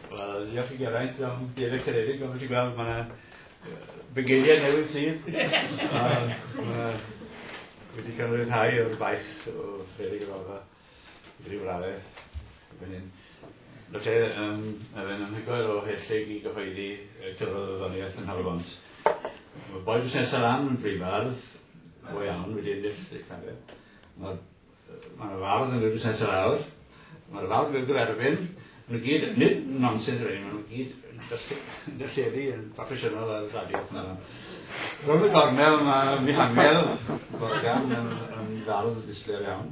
Wel, diolch i Geraint am dyn y cynnig, ond ti'n gweld, mae yna bygeiriau newydd sydd. Mae wedi cael rhyddhau o'r baich o Feri Gyfalfa i ryw raddau. Erbyn hyn. Felly, yym, mae fe'n anhygoel o helltig i gyhoeddi yy cyfrol y farddoniaeth yn Nhal-y-bont. Mae boi busnesa lan yn fryn fardd, go iawn, wedi ennill ei chario. Ma'r yy ma' 'na fardd yn neud busnesa lawr, ma'r fardd yn neud yr erfyn, ma' nw gyd, nid nonsens rei, ma' nw gyd yn dysgu yn dylledu yn broffesiynol ar y radio p'un o. Rownd y gornel ma' Mihangel Morgan yn yn fardd ddisglair iawn.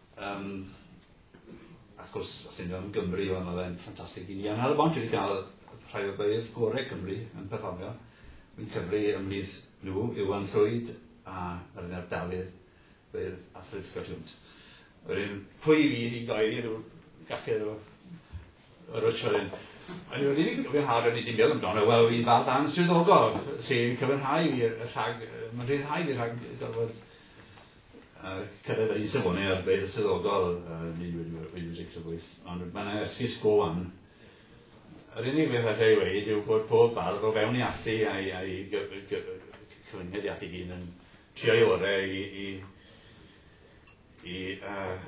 Yym, wrth gwrs, os ti'n meddwl am Gymru, wel, mae fe'n ffantastig i ni. Ond ar y bont, dwi wedi cael rhai o beirdd gorau Cymru yn perfformio. Fi'n cyfri ymhlith nhw, Iwan Llwyd a Myrddin ap Dafydd, beirdd Alfred Scott Jones. Wedyn, pwy fydd i goeddi rhyw galltir o... Richard yn Yr unig un fi'n cofio o'n i 'di meddwl amdano yw i ddal darn swyddogol sy'n cyfynhau fi rhag yy ma'n rhyddhau fi rhag gorfod yy cyrraedd yr un safone â'r beirdd swyddogol yy yn un wedi wedi wedi tricio bwys ond ma' 'na esgus go wan. Yr unig beth alla i weud yw bod pob bardd o fewn ei allu a'i a'i gy- gy- cyfyngiad ei allu ei hun yn Trio ei orau i i i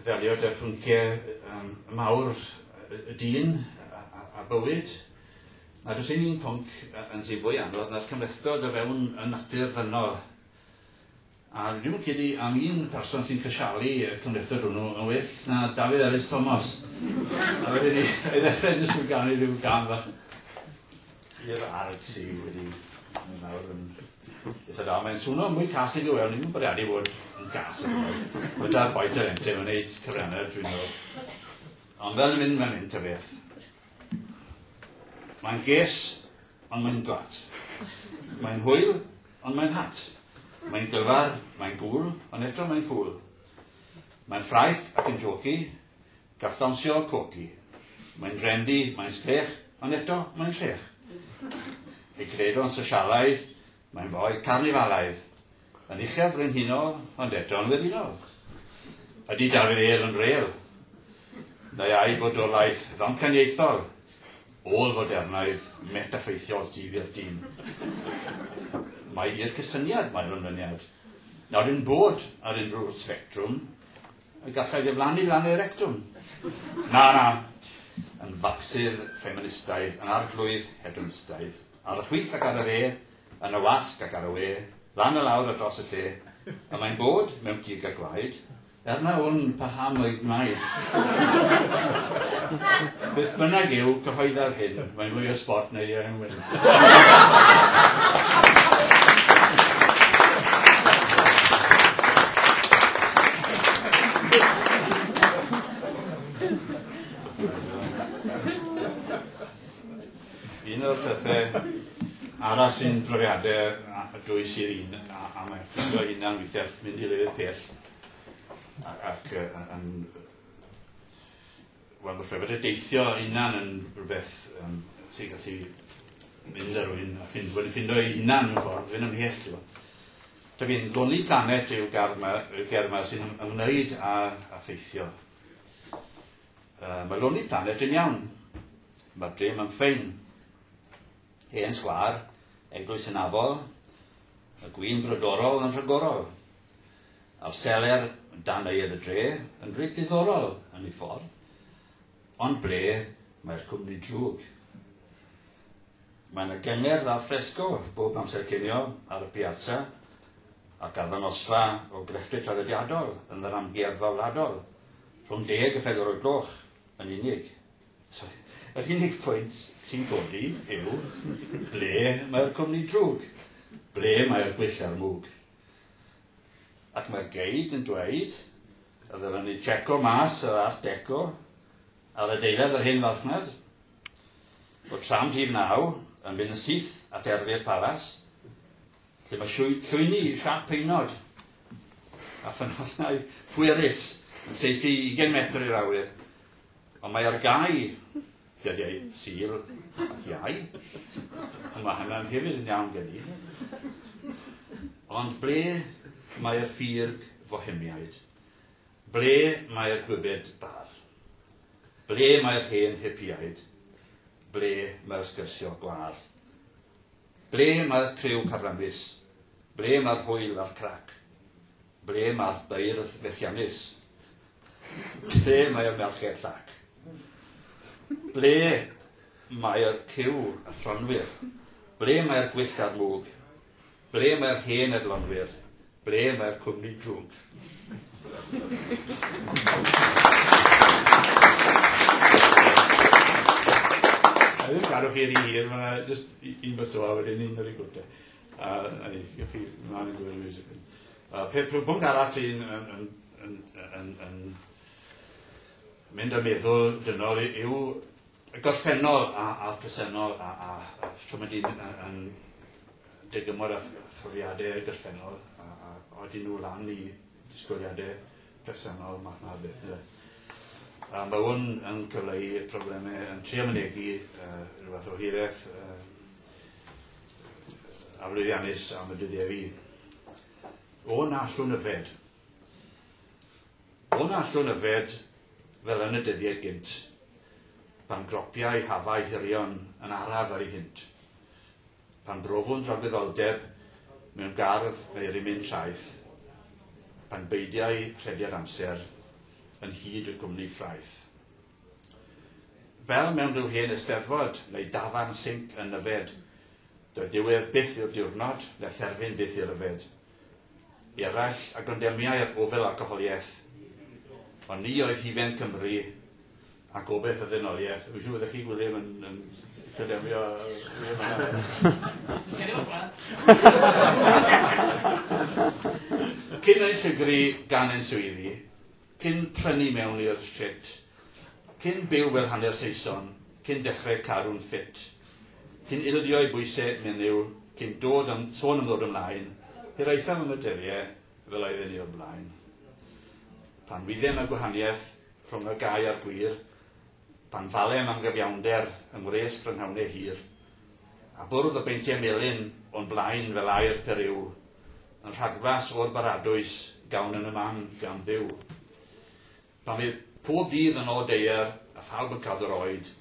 ddelio 'da phynciau mawr y dyn a bywyd. A does dim un pwnc yn sy'n fwy anodd na'r cymhlethdod o fewn y natur ddynol. A dwi'm yn credu am un person sy'n crisialu y cymhlethdod hwnnw yn well na Dafydd Elis Tomos. A wedyn 'ny, 'na i ddechrau jyst trwy ganu rhyw gân fach. Tir arg sy wedi yn nawr yn eitha da. Mae'n swno mwy cas i ddiwedd, ni'n bwriadu bod yn cas i ddiwedd. Mae'n dal boed yr ente, mae'n neud cyfrannau, dwi'n meddwl. Ond fel yn mynd, mae'n mynd ta beth. Mae'n ges, ond mae'n dwat. Mae'n hwyl, ond mae'n hat. Mae'n glyfar, mae'n gŵl, ond eto mae'n ffŵl. Mae'n ffraeth ac yn joci, Gall ddawnsio cogi. Mae'n drendi, mae'n sgrech, ond eto, mae'n llech. Ei gred o'n sosialaidd, mae'n foi carnifalaidd. Yn uchel frenhinol, ond eto'n werinol. Ydy Dafydd Êl yn rêl? Neu ai bodolaeth ddamcaniaethol, ôl-fodernaidd, metaffeithiol sydd i'r dyn? Mae i'r cysyniad, mae'r ymlyniad. Nawr, yn bod ar unrhyw sbectrwm, Y gallai ddiflannu lan ei rectwm. Na, na. Yn facsydd ffeministaidd, yn arglwydd hedonistaidd. Ar y chwith ac ar y dde, yn y wasg ac ar y we, lan a lawr a dros y lle. Y mae'n bod, mewn cig a gwaed. Er na wn paham o'i gwnaed. Beth bynnag yw cyhoeddaf hyn, mae'n fwy o sbort na iau yn wyn. Un o'r pethau arall sy'n profiadau a dwys i'r un a a mae'n ffrindio ei hunan weithiau wrth mynd i lefydd pell a ac yy yn Wel falle bod e deithio ei hunan yn rhywbeth yym sy'n gallu mynd â rhywun a ffind- wedi ffindo ei hunan mewn ffordd, fynd ymhell t'bo'. Dw i'n Lonely Planet yw'r gardd 'ma yw'r gerdd 'ma sy'n ym- ymwneud â â theithio. Yy ma' Lonely Planet dim iawn. Ma'r dre 'ma'n ffein. Hen sgwâr, eglwys hynafol, y gwin brodorol yn rhagorol. A'r seler dan aedd y dre yn reit ddiddorol yn ei ffordd, ond ble mae'r cwmni drwg? Mae 'na gyngerdd al fresco bob amser cinio ar y piazza ac arddangosfa o grefftau traddodiadol yn yr amgueddfa wladol rhwng deg a phedwar o'r gloch yn unig. Sori, yr unig pwynt sy'n codi yw ble mae'r cwmni drwg? Ble mae'r gwyllau'r mwg? Ac mae'r geid yn dweud y ddylen ni jeco mas yr Art Deco ar adeilad yr hen farchnad o tram rhif naw yn mynd yn syth at Erfy'r Palas, lle mae llwyni siâp peinod a ffynhonnau pwerus yn saethu i ugain metr i'r awyr, ond mae ar gau Dyddiau Sul ac Iau, a mae hynna'n hefyd yn iawn gen i. Ond ble mae'r ffug Fohemiaid? Ble mae'r gwybed bar? Ble mae'r hen hipiaid? Ble mae'r sgyrsio gwar? Ble mae'r criw carramus? Ble mae'r hwyl a'r crac? Ble mae'r beirdd fethiannus? Lle mae y merched llac? Ble mae'r cyw athronwyr? Ble mae'r gwyll a'r mwg? Ble mae'r hen edlonwyr? Ble mae'r cwmni drwg? Dwi ddim yn cadw chi rhy hir, mae yna jyst un bwyta fo a wedyn un ar y gwt 'te. A'r peth pwnc arall sy'n mynd â meddwl dynol yw y gorffennol a'r presennol a shwt mae dyn yn dygymod â phrofiadau y gorffennol a odyn nhw lan i disgwyliadau presennol math 'na o beth ynde. A ma' hwn yn cyfleu problemau yn trio mynegi rhyw fath o hireth a lwyddiannus am y dyddiau fydd. O na allwn yfed. O na allwn yfed fel yn y dyddiau gynt, pan gropiau hafau hirion yn araf ar ei hynt, pan brofwn dragwyddoldeb mewn gardd neu rimyn traeth, pan beidiau rhediad amser yn hyd y cwmni ffraeth. Fel mewn rhyw hen Eisteddfod neu dafarn sinc yn Nyfed, doedd diwedd byth i'r diwrnod, na therfyn byth i ryfed. I eraill a gondemniai'r ofel alcoholiaeth, ond ni oedd hufen Cymru a gobaith y ddenoliaeth. Dwi'n siŵr fyddech chi, Gwilym, yn, yn condemnio William Hannah. Cyn ei llygru gan ein swyddi, Cyn prynu mewn i'r shit. Cyn byw fel hanner Saeson, cyn dechre caru'n ffit. Cyn ildio i bwyse menyw, cyn dod am sôn am ddod ymlaen, hiraethaf am y dyrie fel oedd e'n i'r blaen. Pan wydem y gwahaniaeth rhwng y gau a'r gwir, pan falem am gyfiawnder yng ngwres prynhawne hir, a bwrdd y beintie melyn o'n blaen fel aer peryw, Yn rhagflas o'r baradwys gawn yn y man gan Dduw. Pan fydd pob dydd yn ôl deuer, a phawb yn cadw'r oed,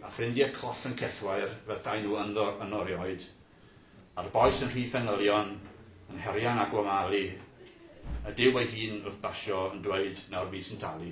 a ffrindie coll yn cellwair fyddai nhw ynddo yn orioed, a'r bois yn rhy fengylion, yn herian a gwamalu, y Duw ei hun wrth basio yn dweud nawr fi sy'n talu.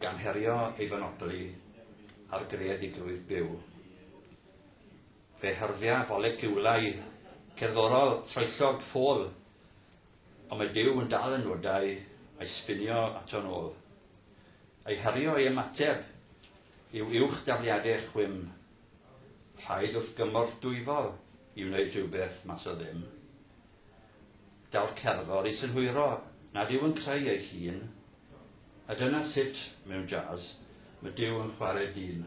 Gan herio ei fynodlu ar greadigrwydd byw, fe hyrddia foleciwlau cerddorol troellog ffôl, ond mae Duw yn dal y nodau a'i sbinio ato'n ôl. Ei herio ei ymateb yw uwch dafliadau chwim, rhaid wrth gymorth dwyfol i wneud rhywbeth mas o ddim. Gall cerddor ei synhwyro nad yw yn creu ei hun, a dyna sut, mewn jazz, mae Duw yn chwarae dyn.